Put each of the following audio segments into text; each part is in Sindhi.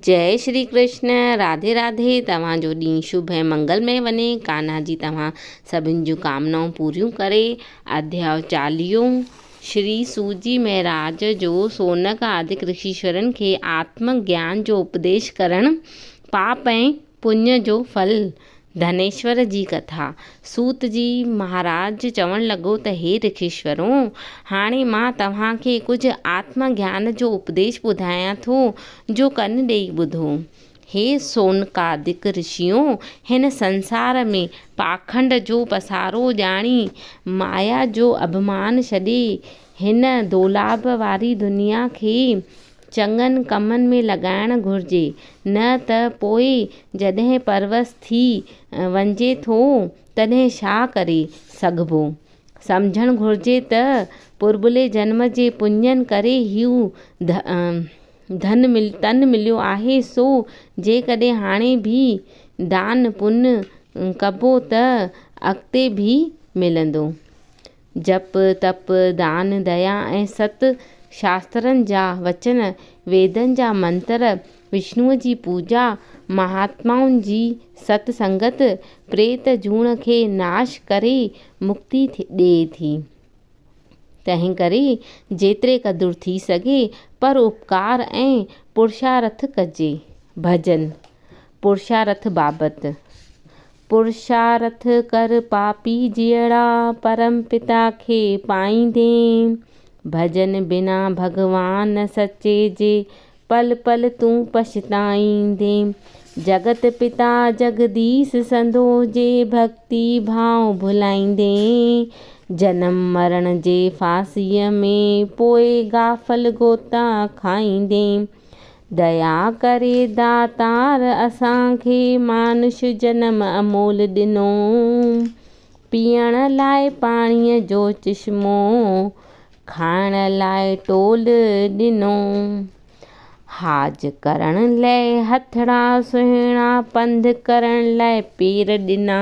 جئي شري ڪرشن راڌي راڌي توهان جو ڏينهن شڀ ۽ منگل مئي وڃي ڪانها جي توهان سڀن جون ڪامنائون پوريون ڪري اڌياء چاليهو شري سوجي مهراج جو سونڪ آدڪ رشيشورن کي آتم گيان جو اپديش ڪرڻ پاپ ۽ پڃ جو ڦل، ڌنيشور جي ڪٿا، سوت جي مھاراج چوڻ لڳو ته ھي رکيشورو! ھاڻي مان توھان کي ڪجھ آتم گيان جو اپديش ٻڌايان ٿو جو ڪن ڏيئي ٻڌو. ھي سوناڪادڪ رشيو! ھن سنسار ۾ پاکنڊ جو پسارو ڄاڻي، مايا جو اڀمان ڇڏي، ھن دولاب واري دنيا کي چڱن ڪمن ۾ لڳائڻ گهرجي، نه ته پوء جڏهن پرورس ٿي وڃجي ٿو، تڏهن ڇا ڪري سگهبو؟ سمجهڻ گهرجي ته پرڀلي جنم جي پڃن ڪري هيء ڌن تن مليو آهي، سو جيڪڏهن هاڻي به دان پڃ ڪبو ته اڳتي به ملندو. جپ، تپ، دان، ديا ۽ ست شاسترن جا وچن، ويدن جا منتر، وشنوء جي پوڄا، مهاتمائن جي ست سنگت، پريت جوڻ کي ناش ڪري مڪتي ڏئي ٿي. تنهن ڪري جيتري قدر ٿي سگهي پر اپڪار ۽ پرشارٿ ڪجي. ڀڄن، پرشارٿ بابت، پرشارٿ ڪر پاپي جيئڙا، پرم پتا کي پائيندين. ڀڄن بنا ڀڳوان سچي جي، پل پل تون پڇتائيندين. جڳت پتا جڳديس سندو، جي ڀڳتي ڀاء ڀلائيندين. جنم مرڻ جي ڦاسيء ۾، پوء غافل غوطا کائيندين. ديا ڪري داتار اسان کي مانوش جنم امول ڏنو. پيئڻ لاء پاڻيء جو چشمو، کائڻ لاء ٽول ڏنو. حاج ڪرڻ لئه هٿڙا سهڻا، پنڌ ڪرڻ لاء پير ڏنا.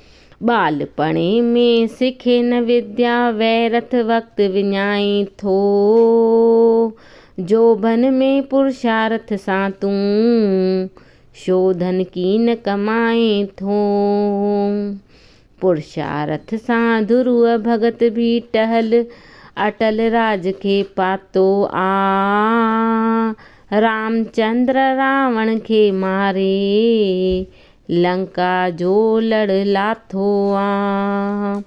ٻالپڻي ۾ سکي نه وديا، ويرٿ وقت وڃائين ٿو. جوڀن ۾ پرشارٿ سان تون، شوڌن ڪين ڪمائين ٿو. پرشارٿ سان ڌرو ڀڳت ڀي ٽهل، اٽل راج کي پاتو آ. رامچندر راوڻ کي ماري، لنڪا جو لڙ لاٿو آ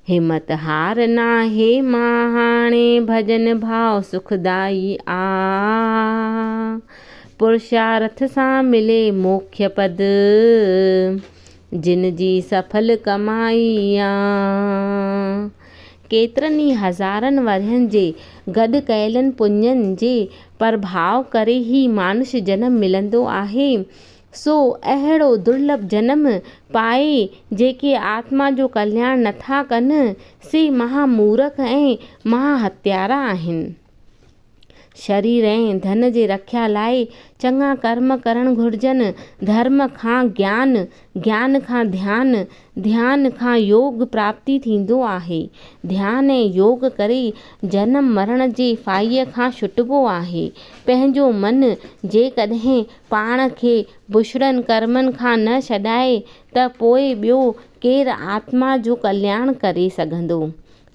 همت هار ناهي مان هاڻي ڀڄن ڀاء سکدائي آ پرشارٿ سان ملي موکي پد جن جي سڦل ڪمائي آ ڪيترن ئي هزارن ورهين جي گڏ ڪيلن پڃن جي پرڀاء ڪري هي مانش جنم ملندو آهي سو اهڙو درلڀ جنم پائي جيڪي آتما جو ڪلياڻ نٿا ڪن سي مها مورک ۽ مها هتيارا آهن. شرير ۽ ڌن جي رکيا لاء چڱا ڪرم ڪرڻ گهرجن، ڌرم کان گيان، گيان کان ڌيان، ڌيان کان يوگ پراپتي ٿيندو آهي. ڌيان ۽ يوگ ڪري جنم مرڻ جي ڦاهيء کان ڇٽبو آهي. پنهنجو من جيڪڏهن پاڻ کي بشرن ڪرمن کان نه ڇڏائي ته پوء ٻيو ڪير آتما جو ڪلياڻ ڪري سگهندو؟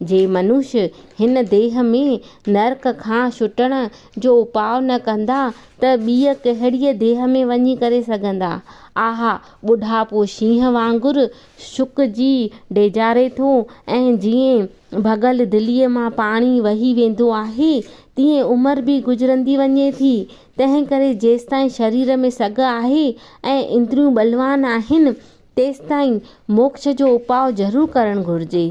جي منوش هن ديهه ۾ نرڪ کان ڇٽڻ جو اپاء نه ڪندا ته ٻيء ڪهڙيء ديهه ۾ وڃي ڪري سگهندا؟ آها! ٻڍاپو شينهن وانگر سڪجي ڊيڄاري ٿو ۽ جيئن ڀڳل دليء مان پاڻي وهي ويندو آهي، تيئن عمر به گذرندي وڃي ٿي. تنهن ڪري جيستائين شرير ۾ سگهه آهي ۽ اندريون بلوان آهن، تيستائين موڪش جو اپاء ضرور ڪرڻ گهرجي.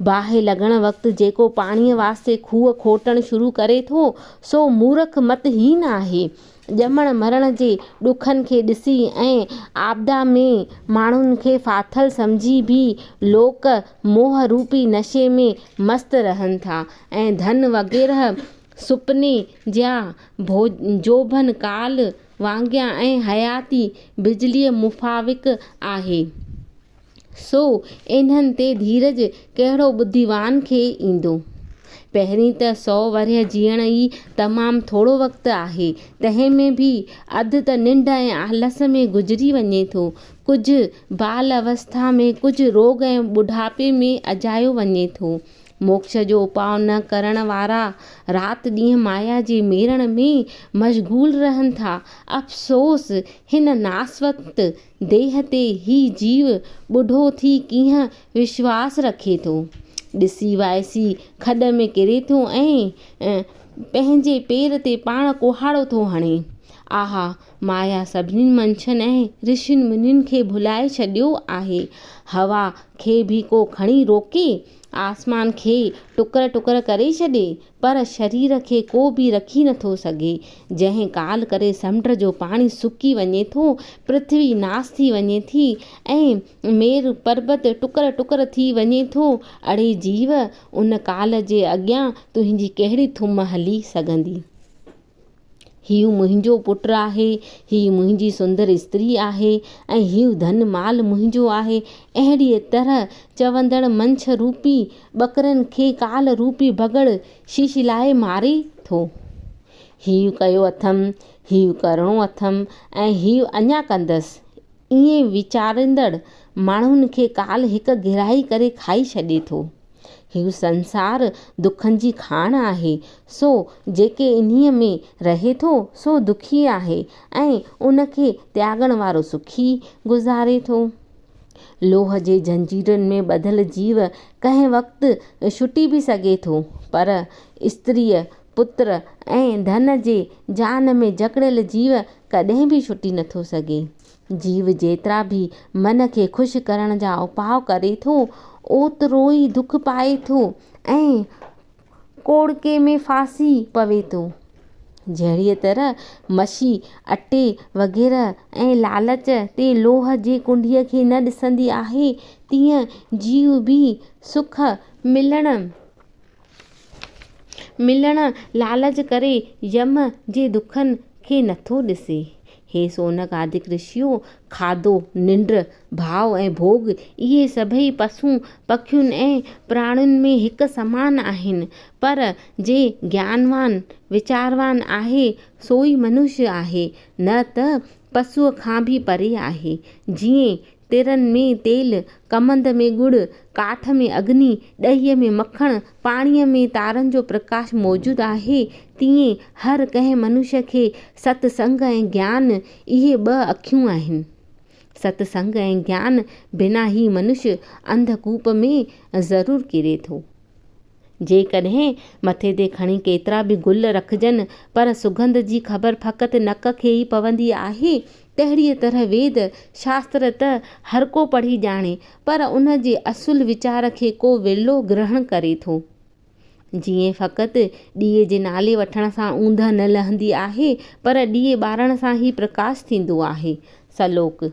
باهه لڳڻ وقت جيڪو پاڻيء واسطي کوهه کوٽڻ شروع ڪري ٿو، سو مورک مت هين آهي. ڄمڻ مرڻ جي ڏکن کي ڏسي ۽ آپدا ۾ ماڻهن کي ڦاٿل سمجهي به لوڪ موهه روپي نشي ۾ مست رهن ٿا ۽ ڌن وغيره سپني جيا ڀو جوڀن ڪال وانگيان ۽ حياتي بجليء مفاوق آهي. سو انهن تي ڌيرج ڪهڙو ٻڌيوان کي ايندو. پهرين ته سؤ ورهيه جيئڻ ئي تمام ٿورو وقت آهي. تنهن ۾ به اڌ ته ننڊ ۽ آلس ۾ گذري وڃي ٿو. ڪجهه بال اوسٿا ۾، ڪجهه روڳ ۽ ٻڍاپي ۾ اجايو وڃي ٿو. موکش جو اپاء نه ڪرڻ وارا رات ڏينهن مايا جي ميڙڻ ۾ مشغول رهن ٿا. افسوس! هن ناسوت ديهه تي هي جيو ٻڍو ٿي ڪيئن وشواس رکي ٿو. ڏسي وائسي کڏ ۾ ڪري ٿو ۽ پنهنجي پير تي پاڻ ڪهاڙو ٿو هڻي. آها! مايا سڀني منشين ۽ رشين منين کي ڀلائي ڇڏيو آهي. هوا کي به ڪو کڻي روڪي؟ آسمان کي ٽڪر ٽڪر ڪري ڇڏي پر شرير کي ڪو به رکي نٿو سگهي جنهن ڪال ڪري سمنڊ جو پاڻي سڪي وڃي ٿو پرٿوي ناس ٿي وڃي ٿي ۽ مير پربت ٽڪر ٽڪر ٿي وڃي ٿو اڙي جيو ان ڪال جي اڳيان تنهنجي ڪهڙي ٿم هلي سگهندي. هيء منهنجو پٽ آهي، هيء منهنجي سندر استري آهي ۽ هيء ڌن مال منهنجو آهي. اهڙيء طرح چوندڙ منڇ روپي ٻڪرن کي ڪال روپي بگهڙ شيشلائي ماري ٿو. هيء ڪيو اٿم، هيء ڪرڻو اٿم ۽ هيء اڃا ڪندس. ائين ويچاريندڙ ماڻهن کي ڪال هڪ گرهائي ڪري کائي ڇڏي ٿو. هيء سنسار دکن جي کاڻ آهي، سو جيڪي انهيء ۾ رهي ٿو، سو دکي آهي ۽ ان کي تياڳڻ وارو سکي گذاري ٿو. لوهه جي زنجيرن ۾ ٻڌل جيو ڪنهن وقت ڇٽي به سگهي ٿو، پر استريء پتر ۽ ڌن جي جان ۾ جڪڙيل جيو ڪڏهن به ڇٽي نٿو سگهي. جيو جيترا به من کي خوش ڪرڻ جا اپاء ڪري ٿو، اوترو ئي دک پائي ٿو ۽ ڪوڙڪي ۾ ڦاسي پوي ٿو. جهڙيء طرح مشي، اٽي وغيره ۽ لالچ تي لوهه جي ڪنڊيء کي نه ڏسندي آهي، تيئن جيو به سک ملڻ ملڻ لالچ ڪري يم جي دکن کي نٿو ڏسي. هي سونڪ آدڪ رشيو، کاڌو، ننڊ، ڀاء ۽ ڀوڳ، اهي سڀئي پسون، پکين ۽ پراڻين ۾ هڪ سمان آهن. پر جي گيانوان، ويچاروان آهي، سوئي منشي آهي، نه ته پسوء کان به پري آهي. جيئن تيرن ۾ تيل، ڪمند ۾ ڳڙ، ڪاٺ ۾ اگني، ڏهيء ۾ مکڻ، پاڻيء ۾ تارن جو پرڪاش موجود آهي، تيئن هر ڪنهن منشي کي ست سنگ ۽ گيان اهي ٻه اکيون آهن. ست سنگ ۽ گيان بنا هي منشي انڌ ڪوپ ۾ ضرور ڪري ٿو. جيڪڏهن مٿي تي کڻي ڪيترا به گل رکجن پر سگنڌ جي خبر فقط نڪ کي ئي پوندي آهي تهڙيء طرح ويد شاستر ته هر ڪو پڙهي ڄاڻي، پر ان جي اصل ويچار کي ڪو ورلو گرهڻ ڪري ٿو. جيئن فقط ڏيئي جي نالي وٺڻ سان اوندهه نه لهندي آهي، پر ڏيئي ٻارڻ سان ئي پرڪاش ٿيندو آهي. سلوڪ.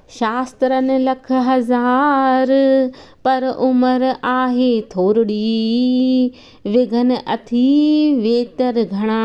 شاسترن لک هزار، پر عمر آهي ٿورڙي، وگهن اٿي ويتر گهڻا،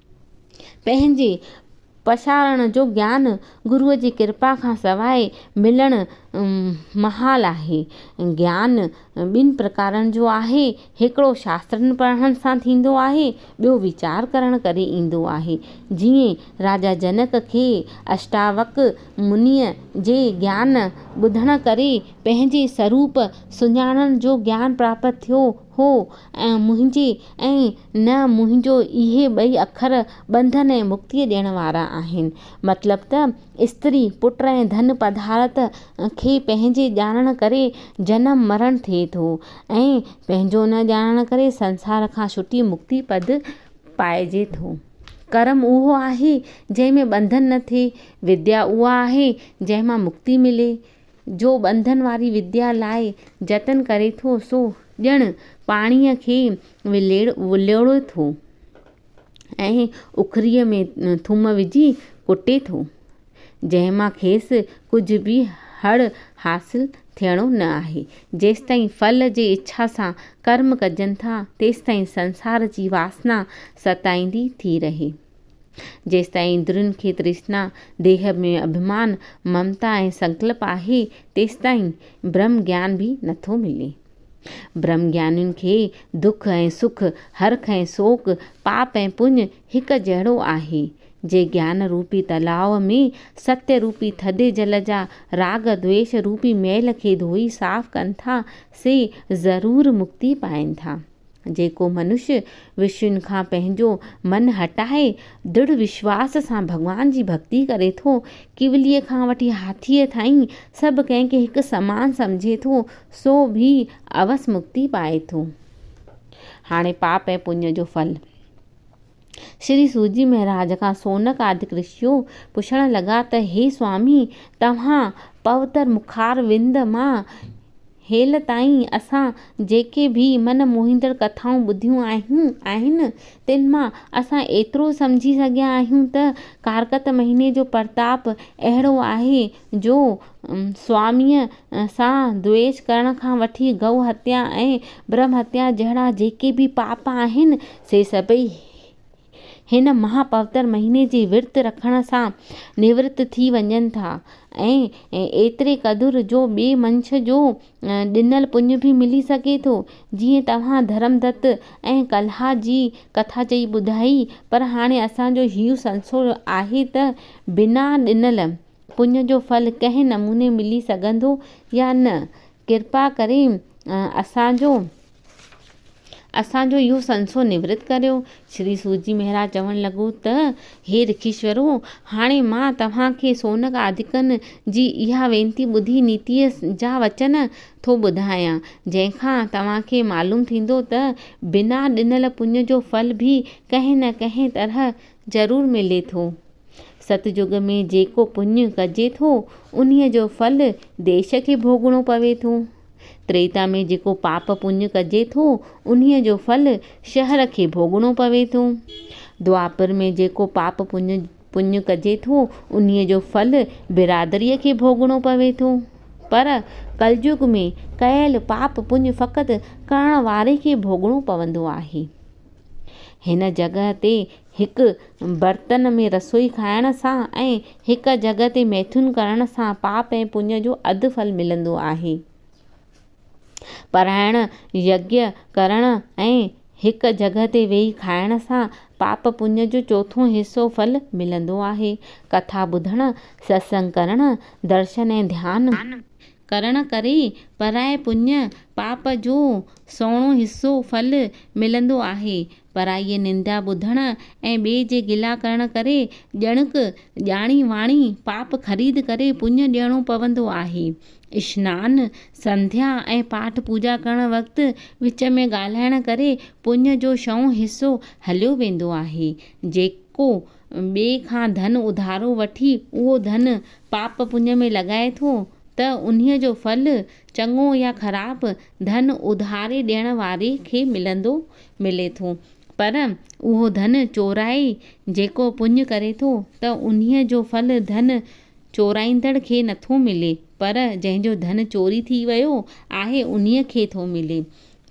پنهنجي پسارڻ جو گيان گروء جي ڪرپا کان سواء ملڻ محال آهي. گيان ٻن پرڪارن جو آهي، هڪڙو شاسترن پڙهڻ سان ٿيندو آهي، ٻيو ويچار ڪرڻ ڪري ايندو آهي. جيئن راجا جنڪ کي اشٽاوڪر منيء جي گيان ٻڌڻ ڪري پنهنجي سروپ سڃاڻڻ جو گيان پراپت ٿيو، هو ۽ منهنجي ۽ نه منهنجو اهي ٻئي اکر ٻنڌن ۽ مڪتيء ڏيڻ وارا آهن. مطلب ته استري، پٽ ۽ ڌن پدارٿ کي پنهنجي ڄاڻڻ ڪري جنم مرڻ ٿئي ٿو ۽ پنهنجو نه ڄاڻڻ ڪري سنسار کان ڇٽي مڪتي پد پائجي ٿو. ڪرم اهو آهي جنهن ۾ ٻنڌن نه ٿئي، وديا اها آهي جنهن مان مڪتي ملي. جو ٻنڌن واري وديا لاء جتن ڪري ٿو سو ڄڻ پاڻيء کي وليڙي ٿو ۽ اکريء ۾ ٿوم وجهي ڪٽي ٿو، جنهن مان کيس ڪجهه به هڙ حاصل ٿيڻو نه آهي. جيستائين ڦل جي اڇا سان ڪرم ڪجن ٿا، تيستائين سنسار جي واسنا ستائيندي ٿي رهي. جيستائين اندرين کي ترشنا، ديهه ۾ اڀمان، ممتا ۽ سنڪلپ آهي، تيستائين برهم گيان به نٿو ملي. برهم گيانين کي دک ۽ سک، هرک ۽ سوڪ، پاپ ۽ پڃ هڪ جهڙو آهي. جي گيان روپي تلاء ۾ ستيء روپي ٿڌي جل جا راڳ دويش روپي ميل کي ڌوئي صاف ڪن ٿا، سي ضرور مڪتي پائين ٿا. جيڪو منشي وشين کان پنهنجو من هٽائي دڙ وشواس سان ڀڳوان جي ڀڳتي ڪري ٿو، ڪيوليء کان وٺي هاٿيء تائين سڀ ڪنهن کي هڪ سمان سمجهي ٿو، سو به اوس مڪتي پائي ٿو. هاڻي پاپ ۽ پڃ جو ڦل. شري سوجي مهراج کان سونڪ آدڪ رشيو پڇڻ لڳا ته هي سوامي! توهان پوتر مکار وند مان هيل تائين اسان جيڪي به من موهيندڙ ڪٿائون ٻڌيون آهن، تن مان اسان ايترو سمجهي سگهيا آهيون ته ڪارڪت مهيني جو پرتاپ اهڙو آهي، جو سواميء سان دوئيش ڪرڻ کان وٺي گئو هتيا ۽ برهم هتيا جهڙا جيڪي به پاپ آهن، سي سڀئي هن مها پوتر مهيني جي ورت رکڻ سان نورت ٿي وڃن ٿا ۽ ايتري قدر جو ٻئي منڇ جو ڏنل پڃ به ملي سگهي ٿو. جيئن توهان ڌرمدت ۽ ڪلها جي ڪٿا چئي ٻڌائي، پر هاڻي اسان جو هيء سلسلو آهي ته بنا ڏنل پڃ جو ڦل ڪنهن نموني ملي سگهندو يا نه؟ ڪرپا ڪري اسان جو اسان جو اهو سنسو نورت ڪريو. شري سوجي مهراج چوڻ لڳو ته، هي رکيشورو! هاڻي مان توهان کي سونڪ آڌڪن جي اها وينتي ٻڌي نيتيء جا وچن ٿو ٻڌايان، جنهن کان توهان کي معلوم ٿيندو ته بنا ڏنل پڃ جو ڦل به ڪنهن نه ڪنهن طرح ضرور ملي ٿو. ستجگ ۾ جيڪو پڃ ڪجي ٿو، انهيء جو ڦل ديش کي ڀوڳڻو پوي ٿو. تريتا ۾ جيڪو پاپ پڃ ڪجي ٿو، انهيء جو ڦل شهر کي ڀوڳڻو پوي ٿو. دوآپر ۾ جيڪو پاپ پڃ ڪجي ٿو، انهيء جو ڦل برادريء کي ڀوڳڻو پوي ٿو. پر ڪلجگ ۾ ڪيل پاپ پڃ فقط ڪرڻ واري کي ڀوڳڻو پوندو آهي. هن جڳهه تي هڪ برتن ۾ رسوئي کائڻ سان ۽ هڪ جڳهه تي ميٿون ڪرڻ سان پاپ ۽ پڃ جو اڌ ڦل ملندو آهي. پرائڻ يگيا ڪرڻ ۽ هڪ جڳهه تي ويهي کائڻ سان پاپ پڃ جو چوٿون حصو ڦل ملندو آهي. ڪٿا ٻڌڻ، ستسنگ ڪرڻ، درشن ۽ ڌيان. ڪرڻ ڪري پرائي پڃ، پاپ، جو سهڻو حصو، ڦل، ملندو آهي. پرائيء نندا ٻڌڻ ۽ ٻئي جي گلا ڪرڻ ڪري ڄڻڪ ڄاڻي واڻي پاپ خريد ڪري پڃ ڏيڻو پوندو آهي. اشنان، سنڌيا ۽ پاٺ پوڄا ڪرڻ وقت وچ ۾ ڳالهائڻ ڪري پڃ جو ڇهون حصو هليو ويندو آهي، جيڪو ٻئي کان ڌن اڌارو وٺي اهو ڌن پاپ پڃ ۾ لڳائي ٿو ته انهيء جو ڦل، چڱو يا خراب، ڌن اڌاري ڏيڻ واري کي ملندو ملي ٿو. پر اهو ڌن چورائي جيڪو پڃ ڪري ٿو ته انهيء جو ڦل ڌن چورائيندڙ کي نٿو ملي پر جنهن جو ڌن چوري ٿي ويو آهي انهيء کي ٿو ملي.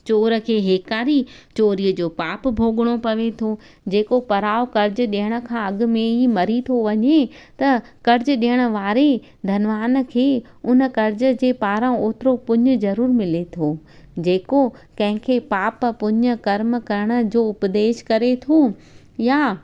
چور کي هيڪاري چوريء جو پاپ ڀوڳڻو پوي ٿو. جيڪو پراء قرض ڏيڻ کان اڳ ۾ ئي مري ٿو وڃي ته قرض ڏيڻ واري، ڌنوان، کي ان قرض جي پاران اوترو پڃ ضرور ملي ٿو. جيڪو ڪنهن کي پاپ، پڃ، ڪرم ڪرڻ جو اپديش ڪري ٿو يا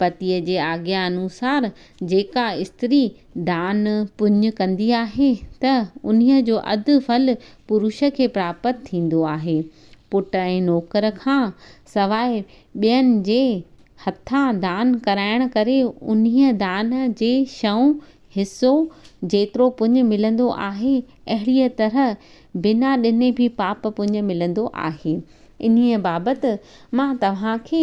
پتيء جي آگيا انوسار جيڪا استري دان، پڃ، ڪندي آهي ته انهيء جو اڌ ڦل پروش کي پراپت ٿيندو آهي. پٽ ۽ نوڪر کان سواء ٻين جي هٿان دان ڪرائڻ ڪري انهيء دان جي شئون حصو جيترو پڃ ملندو آهي، اهڙيء طرح بنا ڏني به پاپ پڃ ملندو آهي. انهيء بابت مان توهان کي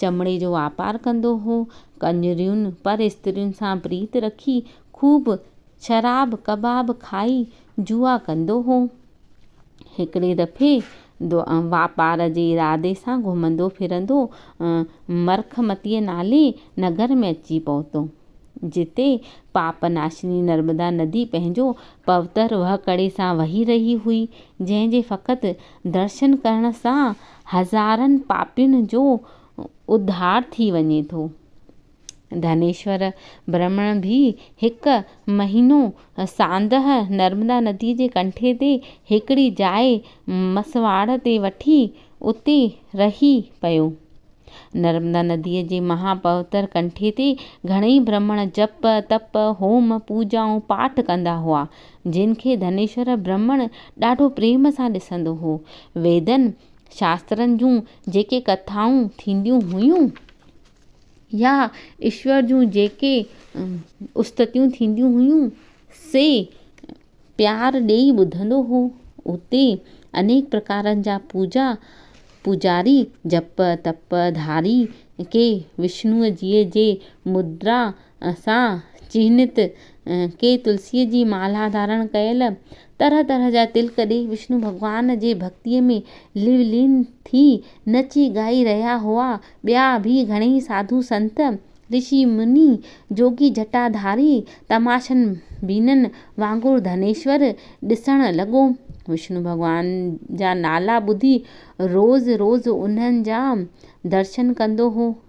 چمڙي جو واپار ڪندو هو. ڪنجريون پر استرين سان پريت رکي خوب شراب ڪباب کائي جوا ڪندو هو. هڪڙي دفعي واپار جي ارادي سان گهمندو ڦرندو مرکمتيء نالي نگر ۾ اچي پهتو. جتي پاپ ناشني نرمدا ندي پنهنجو پوتر وهڪڙي سان وهي رهي هئي، جنهن جي فقط درشن ڪرڻ سان هزارن پاپين جو اڌار ٿي وڃي ٿو. ڌنيشور برهمڻ به هڪ مهينو ساندهه نرمدا نديء جي ڪنٺي تي هڪڙي جاء مسواڙ تي وٺي اتي رهي پيو. نرمدا نديء جي مها پوتر ڪنٺي تي گهڻئي برهمڻ جپ، تپ، هوم، پوڄائون، پاٺ ڪندا هئا. جن کي ڌنيشور برهمڻ ڏاڍو پريم سان ڏسندو هو. ويدن، شاسترن جون جيڪي ڪٿائون ٿينديون هيون يا ايشور جون جيڪي استتيون ٿينديون هيون، سي پيار ڏيئي ٻڌندو هو. اتي انيڪ پرڪارن جا پوڄا پوڄاري جپ، تپ، ڌاري ڪي وشنوء جيء جي مدرا سان چهنيت ڪي تلسيء جي مالها ڌارڻ ڪيل، طرح طرح جا تلڪ ڏيئي وشنو ڀڳوان جي ڀڳتيء ۾ لولين ٿي نچي ڳائي رهيا هئا. ٻيا به گهڻيئي ساڌو سنت، رشي مني، جوڳي جٽا ڌاري، تماشن بينن وانگر ڌنيشور ڏسڻ لڳو. وشنو ڀڳوان جا نالا ٻڌي روز روز انهن جا درشن ڪندو هو.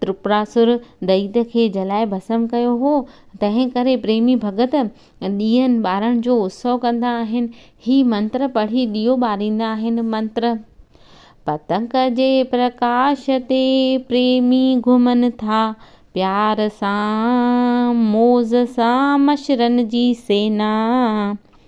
ترپراسر دئيت کي جلائي ڀسم ڪيو هو، تنهن ڪري پريمي ڀڳت ڏيئن ٻارڻ جو اتسو ڪندا آهن. هي منتر پڙهي ڏيئو ٻاريندا آهن. منتر، پتنگ جي پرڪاش تي پريمي گهمن ٿا، پيار سان، موز سان مشرن جي سينا.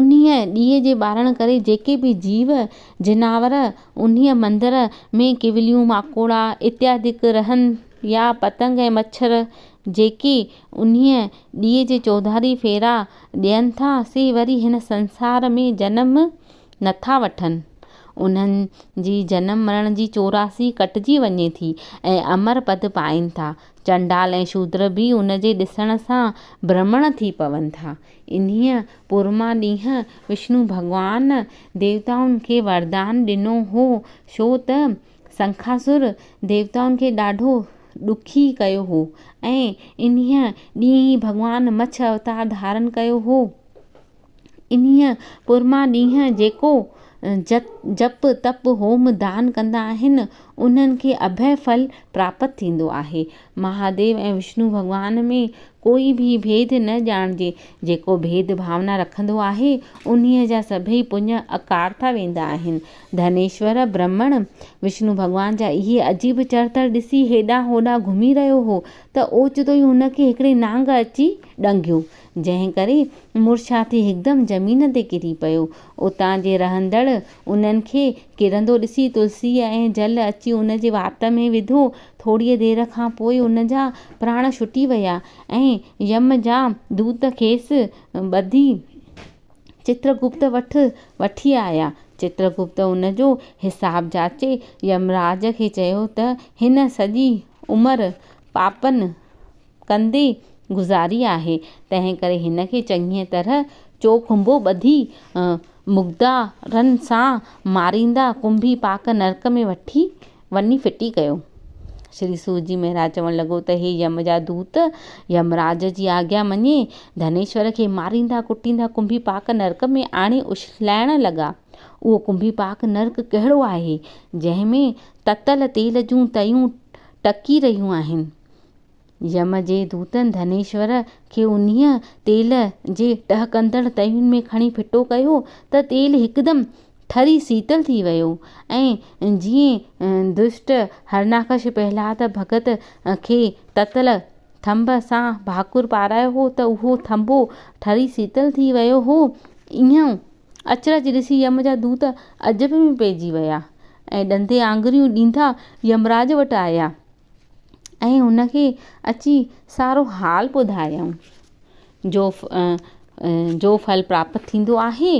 انهيء ڏيئي جي ٻارڻ ڪري جيڪي به جيو جناور انهيء مندر ۾ ڪيوليون، ماڪوڙا اتيادڪ رهن يا پتنگ ۽ مڇر جيڪي انهيء ڏيئي جي چوڌاري ڦيرا ڏين ٿا، سي وري هن سنسار ۾ جنم نه ٿا وٺن. انهن جي جنم مرڻ جي چوراسي ڪٽجي وڃي ٿي ۽ امر پد پائين ٿا. چنڊال ۽ شودر به ان جي ڏسڻ سان برهمڻ ٿي پون ٿا. انهيء پورما ڏينهن وشنو ڀڳوان ديوتائن کي وردان ڏنو هو، ڇو ته سنکاسر ديوتائن کي ڏاڍو ڏکي ڪيو هو ۽ انهيء ڏينهن ئي ڀڳوان مڇ اوتار ڌارن ڪيو هو. انهيء پرمان ڏينهن جيڪو جپ تپ هوم دان ڪندا آهن، انهن کي اڀئي ڦل پراپت ٿيندو آهي. مهاديو ۽ وشنو ڀڳوان ۾ ڪوئي به ڀيد نه ڄاڻجي. جيڪو ڀيد ڀاونا رکندو آهي، انهيء جا سڀئي پڃ اڪارٿا ويندا آهن. ڌنيشور برهمڻ، وشنو ڀڳوان جا اهي عجيب چرتڙ ڏسي هيڏانهن هوڏانهن گهمي رهيو هو ته اوچتو ئي هن کي هڪڙي نانگ اچي ڏنگيو، جنهن ڪري مورچا ٿي هڪدم زمين تي ڪري پيو. اتان جي رهندڙ انهن کي ڪرندو ڏسي تلسيء ۽ جل اچي ان جي وات ۾ وڌو. ٿوريء دير کان پوء ان جا پراڻ ڇٽي ويا ۽ يم جا دوت کيس ٻڌي چترگپت وٽ وٺي آيا. چترگپت ان جو حساب جاچي يمراج کي چيو ته هن سڄي عمر پاپن، ڪندي گذاري آهي، تنهن ڪري هن کي چڱيء طرح چوکنڀو ٻڌي مقدارن سان ماريندا ڪنڀي پاڪ نرڪ ۾ وٺي وڃي ڦٽي ڪيو. شري سور جي مهراج چوڻ لڳو ته هي يم جا دوت يمراج جي آگيا مڃي ڌنيشور کي ماريندا ڪٽيندا ڪنڀي پاڪ نرڪ ۾ آڻي اڇلائڻ لڳا. اهو ڪنڀي پاڪ نرڪ ڪهڙو آهي، جنهن ۾ تتل تيل جون تيون ٽڪي رهيون آهن. يم جي دوتن ڌنيشور کي انهيء تيل جي ٽهڪندڙ تئين ۾ کڻي ڦٽو ڪيو ته تيل هڪدم ٺري سيتل ٿي ويو ۽ جيئن دشٽ هرڻاڪش پهلاد ڀڳت کي تتل ٿنڀ سان ڀاڪر پارايو هو ته اهو ٿنڀو ٺري سيتل ٿي ويو هو، اهو اچرج ڏسي يم جا دوت عجب ۾ پئجي ويا ۽ ڏندي آڱريون ڏيندا يمراج وٽ آيا. ۽ هن کي اچي سارو حال ٻڌايائون. جو جو ڦل پراپت ٿيندو آهي.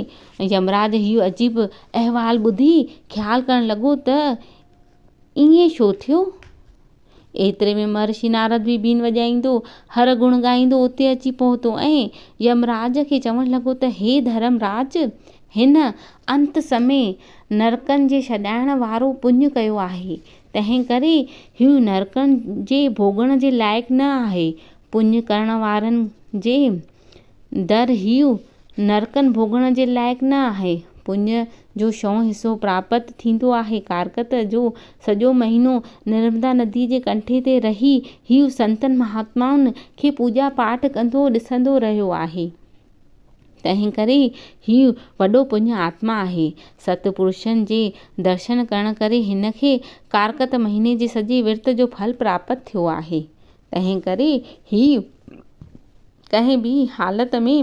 يمراج هيء عجيب احوال ٻڌي خيال ڪرڻ لڳو ته ائين ڇو ٿيو؟ ايتري ۾ مهرشي نارد به بين وڄائيندو، هر گڻ ڳائيندو اتي اچي پهتو ۽ يمراج کي چوڻ لڳو ته هي ڌرم راج! هن انت سمي نرڪن جي ڇڏائڻ وارو پڃ ڪيو آهي، تنهنڪري هو نرڪن جي ڀوڳڻ جي لائق نه آهي. پڃ ڪرڻ وارن جي در هو نرڪن ڀوڳڻ جي لائق نه آهي. پڃ جو شئون حصو پراپت ٿيندو آهي. ڪارڪت جو سڄو مهينو نرمدا نديء جي ڪنٺي تي رهي هو سنتن مهاتمائن کي پوڄا پاٺ ڪندو ڏسندو رهيو آهي. تنهن ڪري هي وڏو پڃ آتما آهي. ست پرشن جي درشن ڪرڻ ڪري هن کي ڪارڪت مهيني جي سڄي ورت جو ڦل پراپت ٿيو آهي. تنهن ڪري هي ڪنهن به حالت ۾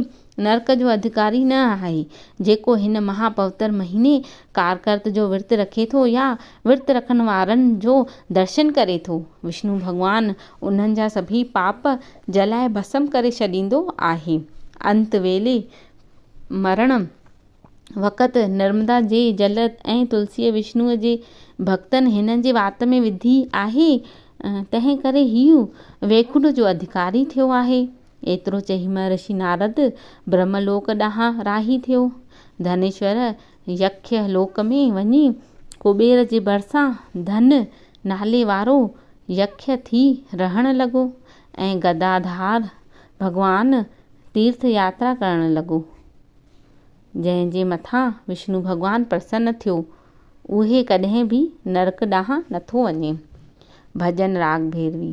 نرڪ جو اڌڪاري نه آهي. جيڪو هن مها پوتر مهيني ڪارڪت جو ورت رکي ٿو يا ورت رکڻ وارن جو درشن ڪري ٿو. وشنو ڀڳوان انهن جا سڀيئي پاپ جلائي ڀسم ڪري ڇڏيندو آهي. انت ويلي، مرڻ وقت، نرمدا جي جل ۽ تلسيء وشنوء جي ڀڳتن هن جي وات ۾ وڌي آهي، تنهن ڪري هيء ويڪنٺ جو اڌڪاري ٿيو آهي. ايترو چئي مهرشي نارد برهملوڪ ڏانهن راهي ٿيو. ڌنيشور يکيء لوڪ ۾ وڃي ڪبير جي ڀرسان ڌن نالي وارو يکيء ٿي رهڻ لڳو ۽ گداڌار ڀڳوان تيرٿ ياترا ڪرڻ لڳو. جنهن جي مٿان وشنو ڀڳوان پرسن ٿيو، اهي ڪڏهن به نرڪ ڏانهن نٿو وڃي. ڀڄن راڳ ڀيروي.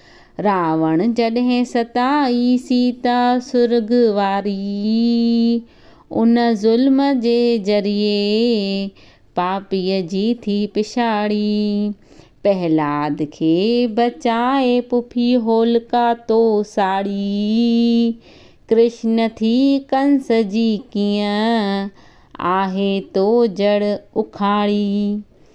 راوڻ جڏهن ستائي سيتا سرڳ واري، ان ظلم جي ذريعي پاپيء جي ٿي پڇاڙي. پهلاد کي بچائي پڦي هولڪا تو ساڙي، ڪرشن ٿي ڪنس جي ڪيئن آهي تو جڙ اکاڙي.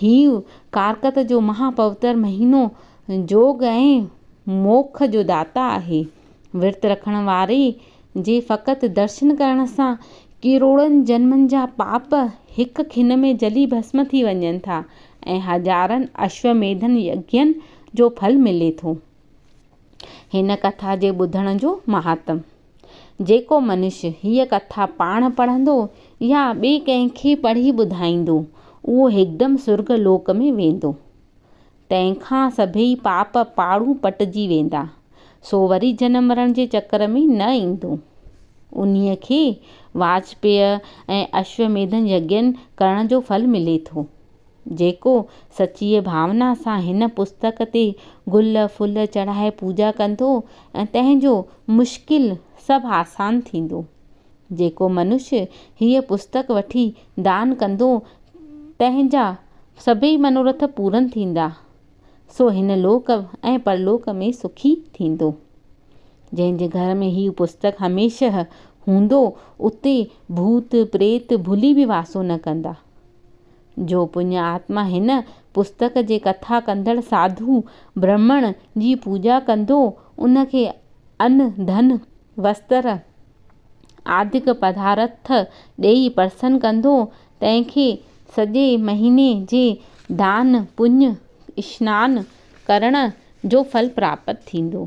هي ڪارڪت جو مها پوتر مهينو جوڳ ۽ موک جو داتا آهي. ورت رکڻ واري جي فقط درشن ڪرڻ سان ڪروڙن جنمن جا پاپ هڪ کن ۾ جلي ڀسم ٿي وڃن ٿا ۽ هزارن اشوميڌن يگين جو ڦل ملي ٿو. هن ڪٿا جي ٻڌڻ جو مهاتم. جيڪو منش هيء ڪٿا پاڻ پڙهندو يا ٻئي ڪنهن کي پڙهي ٻڌائيندو، اهو هڪدم سرڳ لوڪ ۾ ويندو. تنهن کان سڀيئي پاپ پاڙون پٽجي ويندا، سو وري جنم مرڻ جي چڪر ۾ نه ايندو. انهيء کي واجپييء ۽ اشوميڌن يگين ڪرڻ جو ڦل ملي ٿو. جيڪو سچيء ڀاونا سان هن پستڪ تي گل ڦل چڙهائي پوڄا ڪندو ۽ تنهن جو مشڪل سڀ آسان ٿيندو. جيڪو منشي هيء پستڪ وٺي دان ڪندو تنهن جا سڀيئي منورٿ پورن ٿيندا. سو هن لوڪ ۽ پرلوڪ ۾ سکي ٿيندو. جنهن جي گهر ۾ هيء پستڪ هميشه هوندو اتي ڀوت پريت ڀلي به واسو نه ڪندا. جو پڃ آتما هن پستڪ جي ڪٿا ڪندڙ ساڌو برهمڻ جي پوڄا ڪندو، ان کي ان، ڌن، وستر، آدڪ پدارٿ ڏيئي پرسن ڪندو، تنهن کي سڄي مهيني جي دان، پڃ، اشنان ڪرڻ جو ڦل پراپت ٿيندو.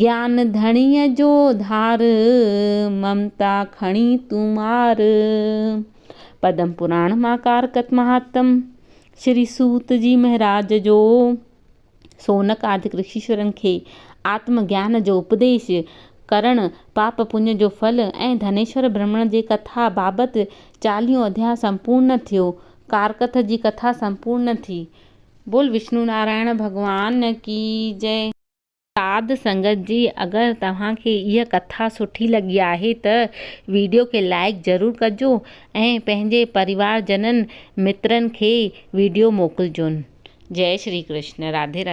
گيان ڌڻيء جو ڌار، ممتا کڻي تون مار. پدم پراڻ مان ڪارڪت مهاتم شري سوت جي مهراج جو سونڪ آدڪ رشيشورن کي آتم گيان جو اپديش ڪرڻ، پاپ پڃ جو ڦل ۽ ڌنيشور برهمڻ جي ڪٿا بابت چاليهون اڌيا سمپورن ٿيو. ڪارڪٿ جي ڪٿا سمپورن ٿي. بول وشنو نارائڻ ڀڳوان ڪي جئه. ساڌ سنگت جي اگر توهان کي اها ڪٿا سٺي لڳي آهي ته ويڊيو کي لائيڪ ضرور ڪجو ۽ پنهنجي پريوار جنن مترن کي ويڊيو موڪلجون جئي شري ڪرشن راڌي راڌي.